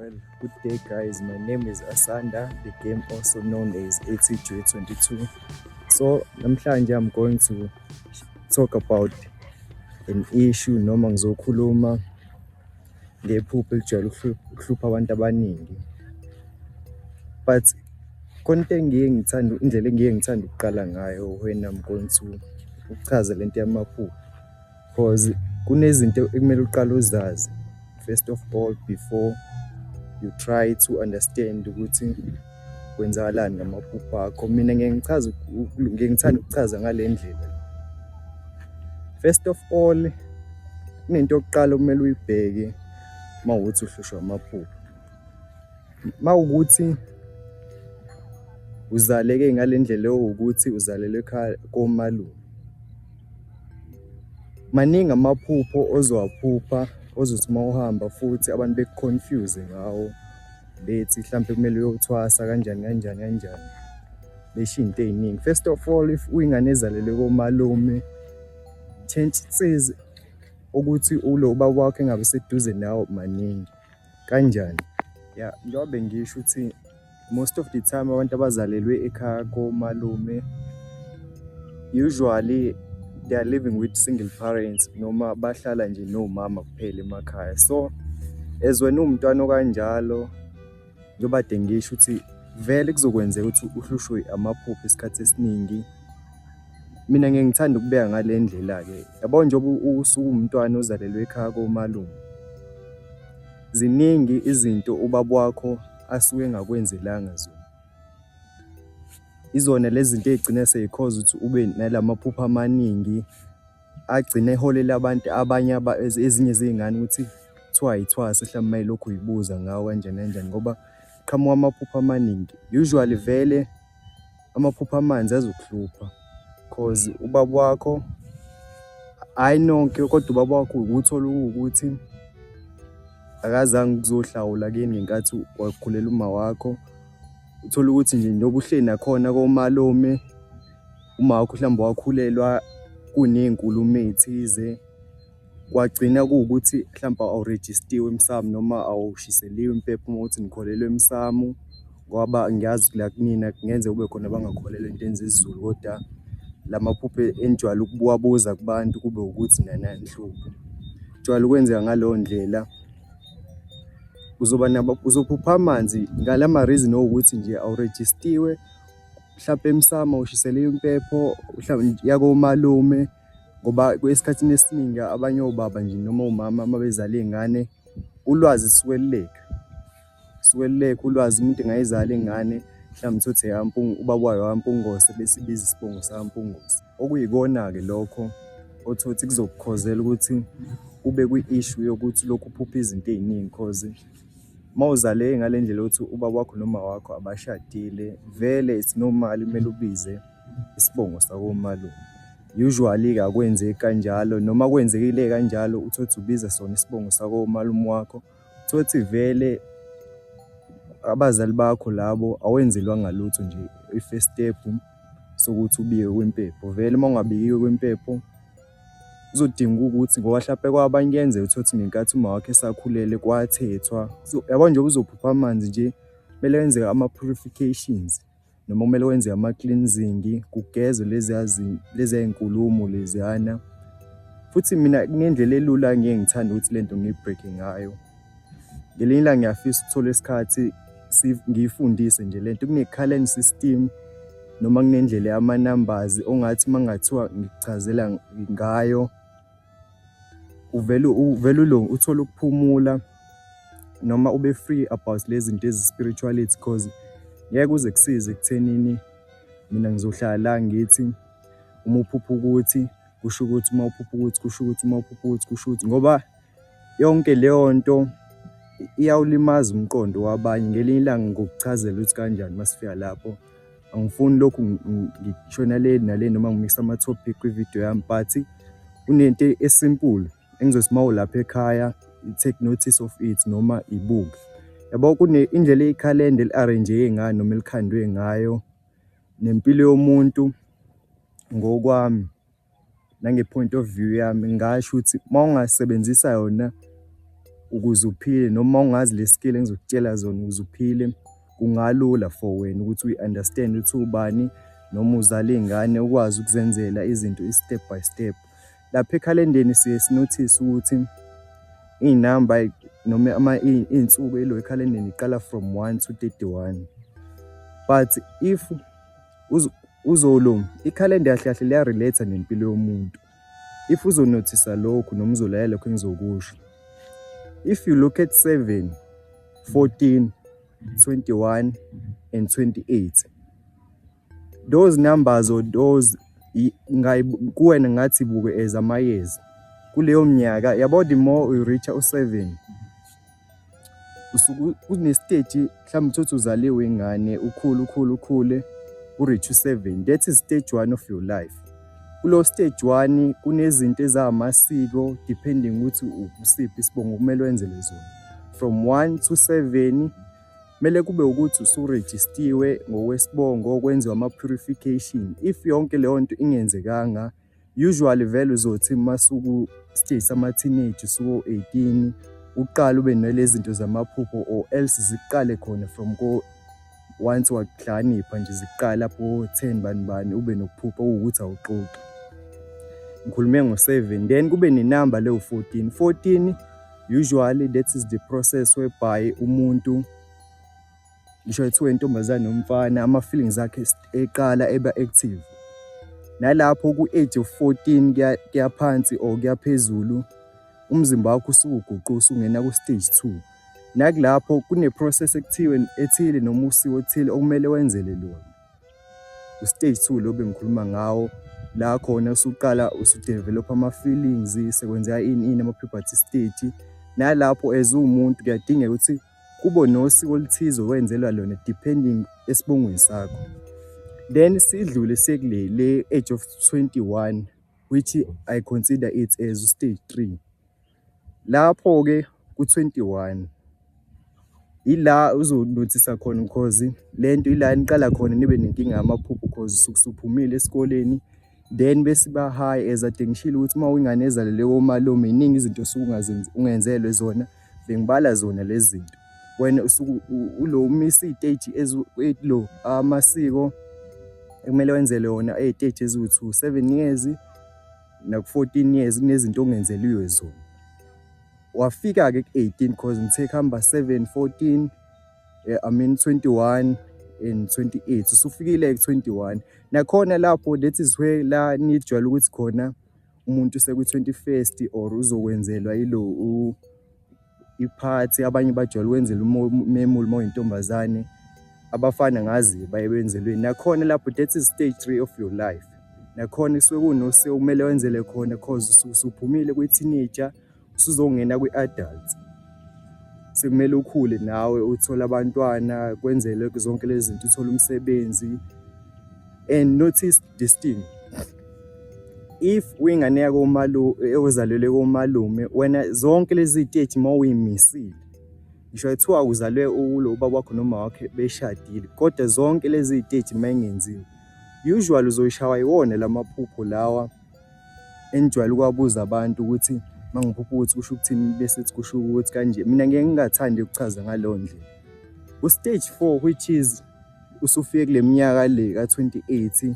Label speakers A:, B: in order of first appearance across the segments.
A: Well, good day guys. My name is Asanda, the game also known as ATJ22. So, namhlanje I'm going to talk about an issue noma ngizokhuluma ngephupho elijwayele ukuhlupha abantu abaningi. But konke engiye ngithanda indlela engiye ngithanda ukuqala ngayo when I'm going to ukuchaza lento yamaphupho Cause kunezinto ekumele uqale uzazi first of all before you try to understand ukuthi kwenzakalani ngamaphupho akho. Mina ngeke ngichaze ngeke ngithanda ukuchaza ngale ndlela. First of all kunento yokuqala okumele uyibheke uma uthi uhlushwa amaphupho. mawukuthi uzaleke ngalendlela ewukuthi uzalelwe ekhaya komalume maningi amaphupho ozowaphupha ozothi uma uhamba futhi abantu bekuconfuse ngawo bethi mhlawumbe kumele uyothwasa kanjani kanjani kanjani besho into ey'ningi first of all if uyingane ezalelwe komalume chances ukuthi ulo ubaba wakho engabe seduze nawo maningi kanjani ya njengoba bengisho ukuthi most of the time abantu abazalelwe ekhaya komalume usually they are living with single parents noma bahlala nje nomama kuphela emakhaya so as wena uwumntwana okanjalo njengoba dengisho ukuthi vele kuzokwenzeka ukuthi uhlushwe amaphupho isikhathi esiningi Mina ngeke ngithanda ukubeka ngale ndlela-ke yabo njengoba usuwumntwana ozalelwe ekhaya komalume. Ziningi izinto ubaba wakho asuke engakwenzelanga zona. Izona lezi zinto ey'gcina sey'khoza ukuthi ube nala maphupho amaningi agcine eholela abantu abanye ezinye zey'ngane ukuthi kuthiwa yithwasa hlampe uma yilokhu uyibuza ngawo kanjani kanjani ngoba qhamuka amaphupho amaningi. Usually vele. amaphupho amanzi azokuhlupha cause ubaba wakho hhayi nonke kodwa ubaba wakho ukuthola ukuthi akazange ukuzohlawula kini ngenkathi wakhulela uma wakho uthole ukuthi nje njengoba uhleli nakhona komalume uma wakho mhlawumbe wakhulelwa kuney'nkulumo ey'thize kwagcina kuwukuthi mhlawumpe awurejistiwe emsamu noma awushiseliwe impepha uma ukuthi nikholelwa emsamu ngoba ngiyazi la kunina kungenze kube khona abangakholelwa into enza isiZulu kodwa la maphupho enijwayele ukuwabuza kubantu kube ukuthi nana nihluphe jwayele ukwenzeka ngaleyo ndlela uzoba nabo uzophupha amanzi ngala ma-reason owukuthi nje awurejistiwe mhlampe emsamo ushisele impepho mhlawumbe yakomalume. ngoba esikhathini esiningi abanye obaba nje noma umama uma bezala iy'ngane ulwazi sikweluleka sikweluleka ulwazi umuntu engayizala ingane mhlawumbe uthi eyampungu ubaba wayo wampungose bese ibiza isibongo sampungose okuyikona-ke lokho othi uthi kuzokukhozela ukuthi ube kwi-issue yokuthi lokhu uphupha izinto ey'ningi cause uma uzale ngale ndlela yokuthi ubaba wakho noma wakho abashadile vele it's normal kumele ubize isibongo sakomalume usually ke akwenzeki kanjalo noma kwenzekile kanjalo uthothi ubiza sona isibongo sakomalume wakho uthothi vele abazali bakho labo awenzelwanga lutho nje i-first step sokuthi ubike kwimpepho vele uma ungabikiwe kwimpepho kuzodinga ukuthi ngoba hlape kwabanye kuyenzeka uthole ukuthi ngenkathi uma wakhe esakhulele kwathethwa yabo nje uzophupha amanzi nje kumele kwenzeka ama-purifications noma kumele wenze ama-cleansing kugezwe leziya leziya inkulumo leziyana futhi mina kunendlela elula ngiye ngithanda ukuthi lento ngiyibreake ngayo ngelinye ilanga ngiyafisa ukuthola isikhathi ngiyifundise nje lento kune-calend system noma kunendlela yama-numbers ongathi uma kungathiwa ngikuchazela ngayo uvele uvele ulungu uthole ukuphumula noma ube free about lezi zinto ezi-spirituality because ngeke uze kusize ekuthenini mina ngizohlala la ngithi uma uphupha ukuthi kusho ukuthi uma uphupha ukuthi kusho ukuthi uma uphupha ukuthi kusho ukuthi ngoba yonke leyo nto iyawulimaza umqondo wabanye ngelinye ilanga ngokuchazela ukuthi kanjani uma sifika lapho angifuni lokhu ngishona le nale noma ngimixa ama-topic kwi-video yami but kunento esimple engizothi uma ulapha ekhaya take notice of it noma ibuke yabo kune indlela ikhalenda eli-arrange-ke ngayo noma elikhandwe ngayo nempilo yomuntu ngokwami nange-point of view yami ngingasho ukuthi uma ungasebenzisa yona ukuze uphile noma ungazi le skill engizokutshela zona ukuze uphile kungalula for wena ukuthi uyi-understand ukuthi ubani noma uzala iy'ngane ukwazi ukuzenzela izinto i-step by step lapha ekhalendeni siye sinothise ukuthi iy'namba noma ama iy'nsuku elo ekhalendeni iqala from one to thirty-one but if UZulu, ikhalenda kahle kahle liya-relate nempilo yomuntu. If uzonothisa lokhu noma uzolaya lokhu engizokusho. If you look at 7, 14, 21 and 28. Those numbers or those kuwena ngathi buke as amayezi. Kuleyo mnyaka yabo the more uyireacha u-7 usuke unestage mhlawumbe uthothi uzaliwe ingane ukhule ukhule ukhule ureach u-7 that is stage one of your life kulo stage one kunezinto ezamasiko depending ukuthi ukusiphi isibongo kumele wenzele zona from 1 to 7 kumele kube ukuthi usurejistiwe ngokwesibongo kwenziwa ama-purification if yonke leyo nto ingenzekanga Usually vele uzothi uma suku stage sama teenage suko 18 uqala ube nalezi zinto zamaphupho or else ziqale khona from ko once wakuhlakanipha nje ziqala lapho 10 bani bani ube nokuphupha ukuthi awuxoxi ngikhulume ngo-7 then kube nenamba leyo 14 14 usually that is the process whereby umuntu ngisho ethiwa intombazane nomfana ama-feelings akhe eqala eba active nalapho ku-age of 14 kuyaphansi or kuyaphezulu umzimba wakho usukuguqu usungena ku-stage 2 nakulapho kune-process ekuthiwe ethile noma usiwo othile okumele wenzele lona u-stage 2 lo bengikhuluma ngawo la khona usuqala usudevelopha ama-feelings sekwenzeka ini ini ama-puberty stage nalapho as uwumuntu kuyadingeka ukuthi kubo nosiko oluthize owenzelwa lona depending esibongweni sakho then sidlule sekule le age of 21 which i consider it as stage 3 lapho ke ku 21 ila uzonothisa khona because lento ila niqala khona nibe nenkinga yamaphupho because usukusuphumile esikoleni then bese ba high as ade ngishilo ukuthi uma uyingane ezalelwe komalume iningi izinto osukungazenzi ungenzelwe zona bengibala zona lezi zinto wena usuku ulo umisa iteji ezilo amasiko ekumele wenzele wona eteji eziwu2 7 years naku 14 years kunezinto ongenzeliwe zona wafika ke ku 18 cause ngithe khamba 7 14 eh, I mean 21 and 28 usufikile ku 21 nakhona lapho that is where la nijwayele ukuthi khona umuntu seku 21st or uzokwenzelwa ilo iphathi abanye bajwayele wenzela umemuli uma uyintombazane abafana ngazi baye benzelweni nakhona lapho that is stage 3 of your life nakhona kusuke kunose kumele wenzele khona cause usuphumile kwi-teenager usuzongena kwi-adults sekumele ukhule nawe uthole abantwana kwenzele zonke lezi zinto uthole umsebenzi and notice this thing if uyingane yakomalume ozalelwe komalume wena zonke lezi zitethi uma uyimisile ngisho kuthiwa uzalwe ulo ubaba wakho noma wakhe beshadile kodwa zonke lezi zitethi uma ingenziwe usually uzoyishawa iwona lamaphupho lawa engijwayele ukuwabuza abantu ukuthi uma ngiphupha ukuthi kusho ukuthini bese sithi kusho ukuthi kanje mina ngeke ngingathandi ukuchaza ngaleyo ndlela u-stage four which is usufike kule minyaka le ka-28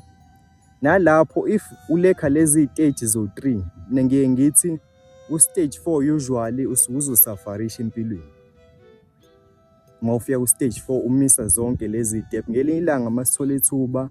A: nalapho if ulekha lezi stage zo-three mina ngiye ngithi u-stage four usually usukuze usafarisha empilweni uma ufika ku-stage four umisa zonke lezi step ngelinye ilanga uma sithola ithuba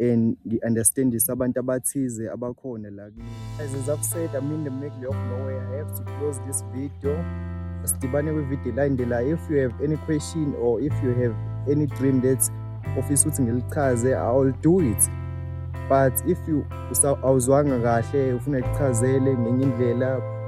A: and ngi-understandise abantu abathize abakhona la as is i've said i'm in the middle of nowhere i have to close this video sidibane kwivideo elandelayo if you have any question or if you have any dream that ofisa ukuthi ngilichaze i'll do it but if you awuzwanga kahle ufuna ikuchazele ngenye indlela